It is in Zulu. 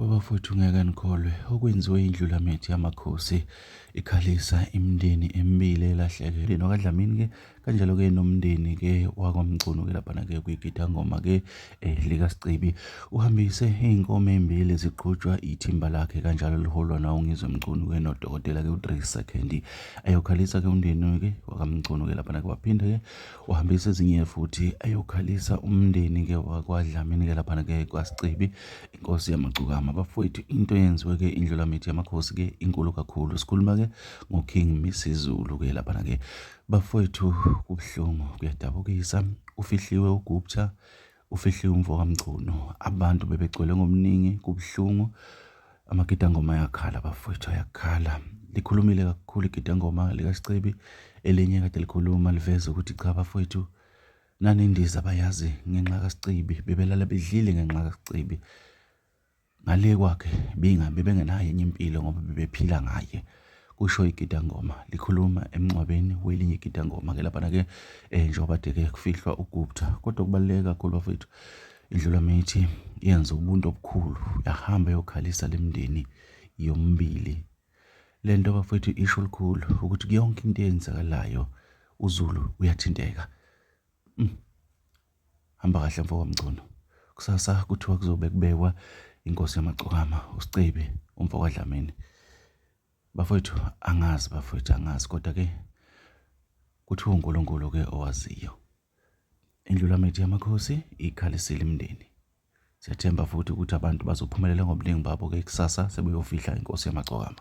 Babafowethu ngeke nikholwe okwenziwe indlulamithi yamakhosi ikhalisa imindeni emibili elahleke lena kaDlamini ke kanjalo ke nomndeni ke wakwamgcunu ke lapha ke kwigida ngoma ke eh, lika Sicebi uhambise izinkomo ezimbili ziqhutshwa ithimba lakhe kanjalo liholwa na ungizwe mgcunu ke nodokotela ke uDrisa Candy ayokhalisa ke umndeni ke wakamgcunu ke lapha ke waphinde ke wahambisa ezinye futhi ayokhalisa umndeni ke wakwadlamini ke laphana ke kwasicebi inkosi yamagcukama bafowethu into eyenziwe ke indlulamithi yamakhosi ke inkulu kakhulu sikhuluma ke ngoking misizulu ke laphana ke bafowethu kubuhlungu kuyadabukisa ufihliwe ugupta Ufihliwe umfo kaMchunu. Abantu bebegcwele ngomningi kubuhlungu. Amagidangoma ayakhala bafowethu ayakhala. Likhulumile kakhulu igidangoma likaSicebi elinye kade likhuluma liveza ukuthi cha bafowethu nanendiza bayazi ngenxa kaSicebi bebelala bedlile ngenxa kaSicebi. Ngale kwakhe Binga bebengenayo enye impilo ngoba bebephila ngaye kusho igidangoma likhuluma emngcwabeni welinye igidangoma ke lapha ke eh njengoba deke kufihlwa uGupta kodwa kubaluleke kakhulu bafethu indlula mithi yenza ubuntu obukhulu yahamba yokhalisa lemndeni yombili lento bafethu isho likhulu ukuthi yonke into eyenzakalayo uZulu uyathinteka mm. Hamba kahle mfo kaMngcono. Kusasa kuthiwa kuzobe kubekwa inkosi yamagcokama uSicebi umfo kaDlamini. Bafowethu angazi bafowethu angazi kodwa ke kuthiwa uNkulunkulu ke owaziyo. Indlulamithi yamakhosi ikhalisile imindeni. Siyathemba futhi ukuthi abantu bazophumelela ngobuningi babo ke kusasa sebeyofihla inkosi yamagcokama.